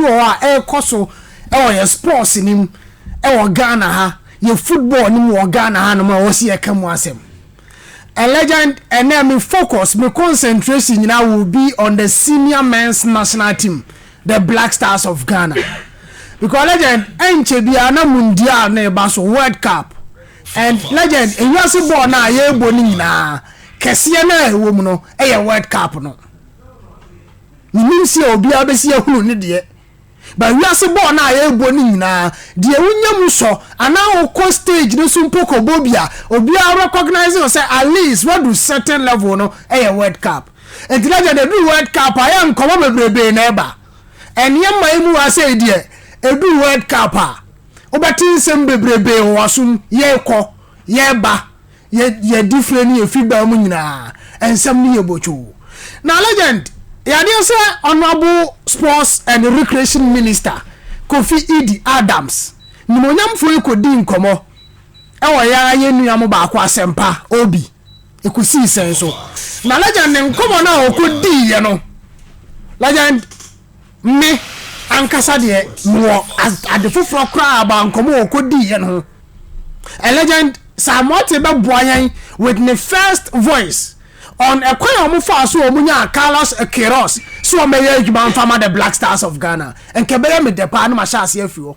bi wɔ hɔ a ɛrekɔ so wɔ yɛn sports no mu wɔ Ghana ha, yɛn football no mu wɔ Ghana hanom a ɛwɔ sɛ yɛka mu asɛm. A legend, ɛnɛ me focus, me concentration nyinaa will be on the senior men's national team, the Black Stars of Ghana. Because legend, ɛnkyɛ biara na Mundial no reba so, World Cup. And legend, ewiase bɔɔl no a yɛrebɔ no nyinaa, kɛseɛ no a ɛwɔ mu no yɛ World Cup no. Menim sɛ obiara bɛsi ahunu ne deɛ, but wiase bɔɔl no a yɛrebɔ no nyinaa, deɛ wonya mu sɔ anaa wokɔ stage no so mpo kɔbɔ bi a, obiara recognise wo sɛ at least woadu certain level no yɛ World Cup. Nti na gyɛ deɛ ɛduru World Cup a yɛ nkɔmmɔ bebrebee na ɛba. Ɛnneɛ mma yɛ mu ha sei deɛ, ɛduru World Cup a, wobɛte nsɛm bebrebee wɔ w'asom, yɛrekɔ, yɛreba. Yɛ yɛ difire ne yɛ figbaa mu nyinaa nsɛm ne yɛ botwoo. Na legend yɛ adeɛ sɛ Honourable Sports and Recreation Minister Kofi Idi Adams nimonyamfoɔ yi kɔdii nkɔmmɔ wɔ yɛ ara yɛ nua mo baako Asɛmpa Obi ɛkɔsii sɛn so. Na legend ne nkɔmmɔ no a ɔkɔdiiɛ no legend Me ankasa deɛ mewɔ ade foforɔ koraa about nkɔmmɔ a ɔkɔdii yɛn ho. A legend Sir Moate bɛboa yɛn with ne first voice on ɛkwan a wɔfaa so a wɔnyaa Carlos Queiroz sɛ wɔmmɛyɛ adwuma mfa ma the Black Stars of Ghana. Nka ɛbɛyɛ me dɛ paa na mahyɛ aseɛ afiri hɔ.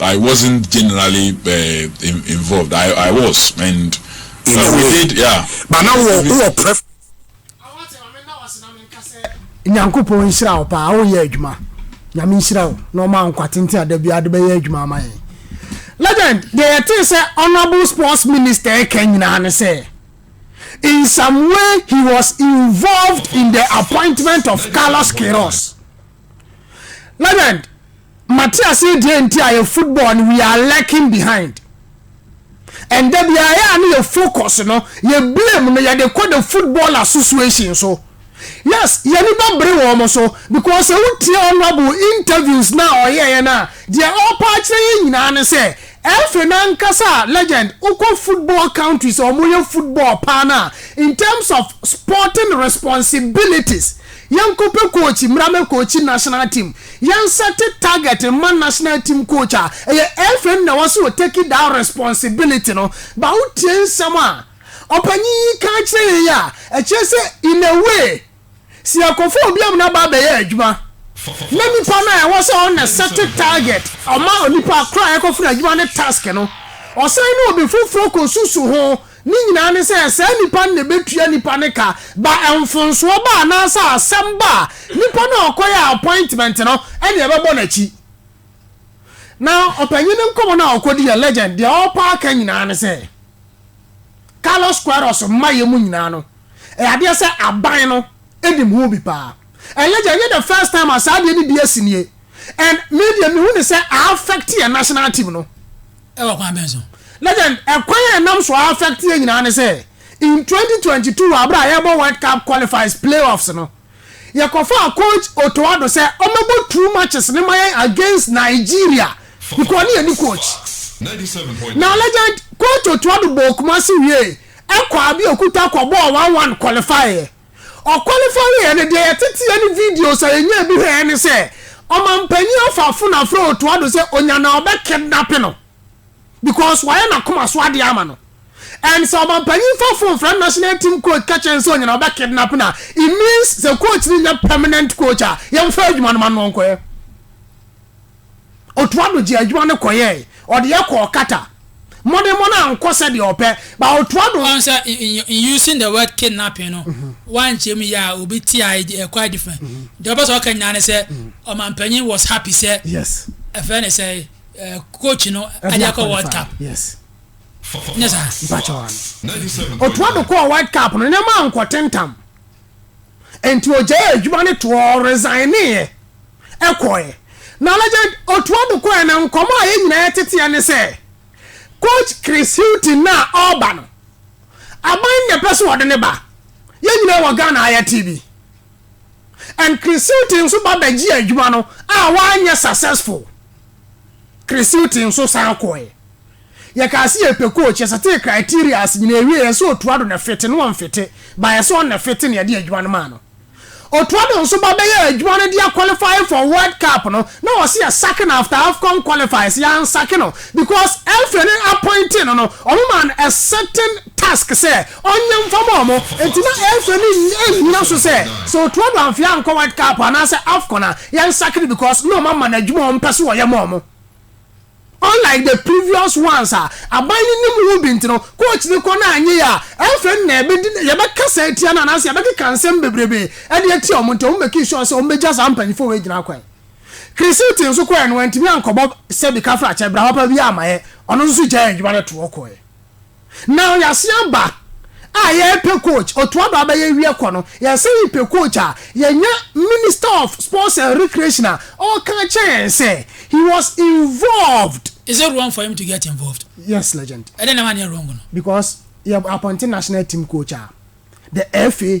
I wasn't generally involved, I I was and we did yeah. But now wɔ wɔ pref. Nyankopɔn nhyira wo paa wo yɛ adwuma nyame nhyira wo na ɔma nkwa tenten a da biara de bɛyɛ adwuma ama yɛn legend deɛ yɛtee sɛ honorable sports minister ɛka nyinaa ne sɛ in some way he was involved in the appointment of Carlos Queiroz legend Mate ase deɛ nti a yɛ football no we are lacking behind and da biara ɛyɛ a ne yɛ focus no yɛ blame no yɛde kɔ the football association so yes y'ani bɛ bere wɔn so because sɛ wo tie honourable interviews no a ɔyɛɛ no a deɛ ɔpɛ akyerɛ yɛn nyinaa ne sɛ ɛfiri no ankasa a legend wokɔ football countries a wɔyɛ football paa no a in terms of sporting responsibilities Yɛnkɔpɛ coach mmra mɛ coachi national team. Yɛn set target mma national team coach a ɛyɛ FM na wɔse o take that responsibility no but wotie nsɛm a ɔpanyin yi ka akyerɛ yɛn yi a ɛkyerɛ sɛ in a way sɛ yɛkɔfa obi ama no aba abɛyɛ adwuma na nipa no a ɛwɔ sɛ ɔna set target ɔma onipa koro a yɛkɔfa no adwuma ne task no ɔsan ne obi foforɔ kɔsusu ho Ne nyinaa ne sɛ saa nnipa no na ɛbɛtua nnipa no ka ba mfomsoɔ ba anaasɛ asɛm ba a, nipa no a ɔkɔyɛɛ appointment no na ɛbɛbɔ n'akyi. Na ɔpanyin no nkɔmmɔ no a ɔkɔdiiɛ, legend, deɛ ɔrepa aka nyinaa ne sɛ Carlos Queiroz mmaeɛ mu nyinaa no, ɛyɛ adeɛ sɛ aban no nim ho bi paa. And legend, ɛnyɛ the first time a saa adeɛ no bi asi nie. And me deɛ mehu ne sɛ a affect yɛn national team no Wɔ kwan bɛn so? Legend, Ɛkwan a ɛnam so a affect yɛn nyinaa ne sɛ, in twenty twenty two wɔ bere a yɛrebɔ World Cup qualifiers playoffs no, yɛkɔfaa coach Otto Addo sɛ ɔmmɛbɔ two matches no ma yɛn against Nigeria because ɔne yɛn ne coach. Na Legend, Coach Otto Addo bɔɔ Kumasi wiei, ɛkɔ Abeokuta kɔbɔɔ one one qualifieɛ. Ɔkwalifai yɛn no, deɛ yɛteteɛ ne videos a yɛnyaa bi hwɛɛ ne sɛ ɔmanpanin Afafo na afrɛ Otto Addo sɛ ɔnya na ɔbɛ kidnape no because wayɛ n'akoma so adeɛ ama no and sɛ ɔmanpanin fa phone frɛ national team coach ka kyerɛ no sɛ ɔnya na ɔbɛ kidnape no a it means sɛ coach no nyɛ permanent coach a yɛmfa adwuma no ma no ɔnkɔyɛ. Otuaa do gyee adwuma no kɔyɛe. Ɔde yɛ kɔɔ Qatar. Mmɔdenmmɔ no annkɔ sɛdeɛ ɔpɛ, but otuaa do. Ɔn sɛ in using the word kidnapping no wankyerɛ mu yie a obi te a ɛyɛ quite different. Deɛ ɔpɛ sɛ ɔka nyinaa ne sɛ ɔmanpanyin was happy sɛ ɛfrɛ ne sɛ coach no ade akɔ World Cup. Yes. Nyɛ saa? Mpakyɛw ano. Otuaa do kɔɔ World Cup no, nneɛma annkɔ tentam. Enti ogyaee adwuma no toɔ, ɔresigneeɛ, kɔeɛ. Na Legend, ɔtoa do kɔeɛ na nkɔmmɔ a yɛn nyinaa teteɛ ne sɛ, Coach Chris Hughton no a ɔreba no, aban na ɛpɛ sɛ ɔde no ba. Yɛn nyinaa wɔ Ghana ha yɛte bi. And Chris Hughton nso ba bɛgyee adwuma no a wanyɛ successful. Chris Hughton nso san kɔeɛ. Yɛkaa se yɛpɛ coach, yɛsetee criterias nyinaa ewiee, yɛse Otua Addo na fete, na ɔnfete, but yɛse ɔno na fete na yɛde adwuma no maa no. Otua Addo nso ba bɛyɛɛ adwuma no de aqualify for World Cup no, na wɔse yɛsake no after Afcon qualifies, yɛansake no because FA no appointee no no, wɔn maa no a certain task sɛ ɔnyɛ mfa ma wɔn, enti na FA no nnyina so sɛ sɛ Otua Addo amfee ankɔ World Cup anaasɛ Afcon a, yɛnsake no because na wɔama no adwuma a wɔpɛ se wɔyɛ ma wɔn. Unlike the previous ones a aban no nim ho bi nti no, coach no kɔ na anyɛ yie a, ɛmfrɛ no na yɛbɛdi ne, yɛbɛkasa atia no anaasɛ yɛbɛkeka nsɛm bebrebe de atia wɔn nti wɔn mekii sure sɛ wɔn bɛgya saa mpanyinfoɔ wei gyina kwan. Chris Hughton nso kɔeɛ no wantumi ankɔbɔ sɛbi kafra kyɛ, bra papa biara mmaeɛ, ɔno nso gyaee adwuma no toɔ kɔeɛ. Now yɛasen aba a yɛrepɛ coach, ɔtoa do abɛyɛ ewiɛ kɔ no yɛsan yi pɛ coach a, yɛnya Minister of Sports and Recreation a ɔka kyerɛ yɛn sɛ he was involved. Is it wrong for him to get involved? Yes legend. Ɛdɛn na wanyɛ wrong no? Because yɛ appointe national team coach a, the FA.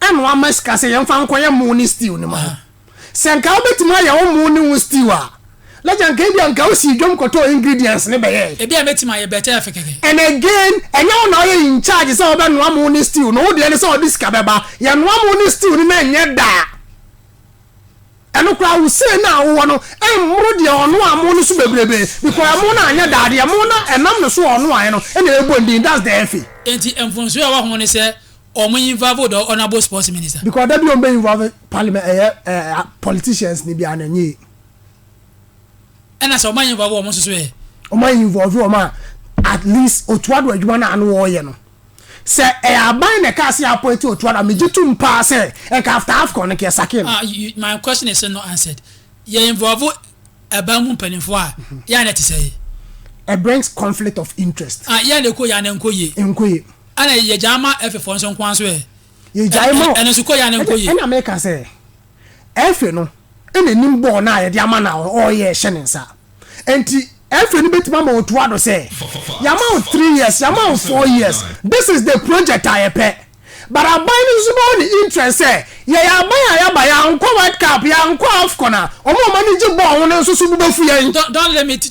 ɛna wama sika sɛ yɛmfa nkɔyɛ mo ne stew no ma wo. Sɛ nka wobɛtumi ayɛ wo mo ne wo stew a, Lagya nka ebia nka wosii dwam kɔtɔɔ ingredients no bɛyɛe. Ebia mɛtumi ayɛ bɛtɛ afe kɛkɛ. And again, ɛnyɛ wo na woyɛ in charge sɛ wobɛnoa mo ne stew no, wo deɛ ne sɛ wɔde sika bɛba. Yɛnoa mo ne stew no na ɛnyɛ da a, ɛno koraa wo sei no a wowɔ no mmoro deɛ ɔnoaa mo no so bebrebe because ɛmo no anyɛ da a, deɛ mo na ɛnam ne so a ɔnoaeɛ no na ɛbɔ ndin, that's the efe. Enti mfomsoɔ a ɛwɔ ho ne sɛ Ɔmo involve the honourable sports minister. Because dabi ɔmo bɛ involve parliament ɛyɛ ɛɛ politicians ni biara na ɛnyɛ yie. Ɛna sɛ ɔmo ayɛ involve ɔmo nso so ɛ. Ɔmo ayɛ involve ɔmo a at least Otuo Addo adwuma no a ano ɔɔyɛ no sɛ ɛyɛ aban na ɛkaa sɛ appoint Otuo Addo a megye tum paa sɛ ɛnka after AFCON no ka ɛsake no. Ah you my question is still not answered yɛ involve ɛban mu mpanyinfoɔ a yɛ a na ɛte sɛ yi. It brings conflict of interest. Ah yɛ a na ɛkɔ yie a na ɛnkɔ yie. Ɛnkɔ yie. Ɛna yɛgyae ma Efe foɔ nso nko ara nso ɛ? Yɛgyae ma ɔ. Ɛno nso kɔ yɛ anaa nkɔ yie? Ɛna meka sɛ, Efe no n'anim bɔɔ no a yɛde ama no a ɔreyɛ rehyɛ ne nsa. Enti Efe no bɛtumi ama watoa do sɛ, Yɛama wo three years, yɛama wo four years, this is the project a yɛpɛ. But aban no nso bɛwɔ ne interest sɛ, yɛyɛ aban a yɛaba, yɛankɔ World Cup, yɛankɔ Afcon a, wɔn a wɔn ani gye bɔɔl ho no nso so bo bɛfu yɛn. Don't limit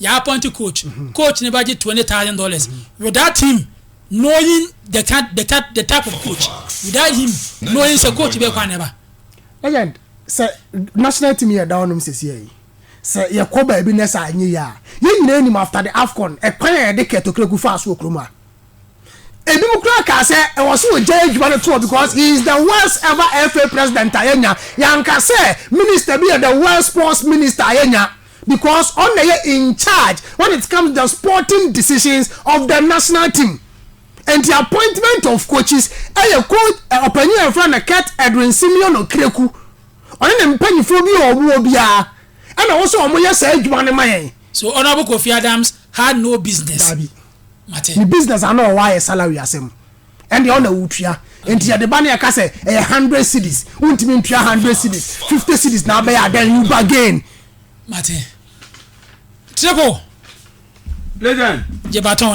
yɛ appoint coach coach no bɛgye twenty thousand dollars without him knowing the type the type the type of coach without him knowing sɛ coach bɛɛ kwan na ɛba. legend sɛ national team yɛ da ɔnom sɛsi ɛyi sɛ yɛ kɔ baabi nɛ sɛ anyɛ yɛ a yɛ nyinaa nim after the afcon ɛkwan a yɛde kɛ tokreku faa so wɔ kurom a ebi mu kura kaa sɛ ɛwɔ so wɔ gya adwuma no toɔ because he is the worst ever fa president a yɛnya yɛnka sɛ minister bi yɛ the worst sports minister a yɛnya. Because ɔno na ɛyɛ in charge when it comes to the sporting decisions of the national team. Nti appointment of coaches ɛyɛ coach ɔpanyin a yɛfrɛ no Kurt Edwin Simeono Kreku. Ɔne ne mpanyinfoɔ bi a wɔwɔ biara ɛna ɛwɔ sɛ wɔyɛ saa adwuma no ma yɛn. So Honourable Kofi Adams had no business? Daabi. Mate. Ne business ano a ɔwɔ ayɛ salary asɛm. ɛndeɛ ɔna wotua nti yɛde ba ne ɛka sɛ ɛyɛ hundred cities wontumi ntua hundred cities fifty cities na abɛyɛ adan you bargain. mate triple. legend. gye baton.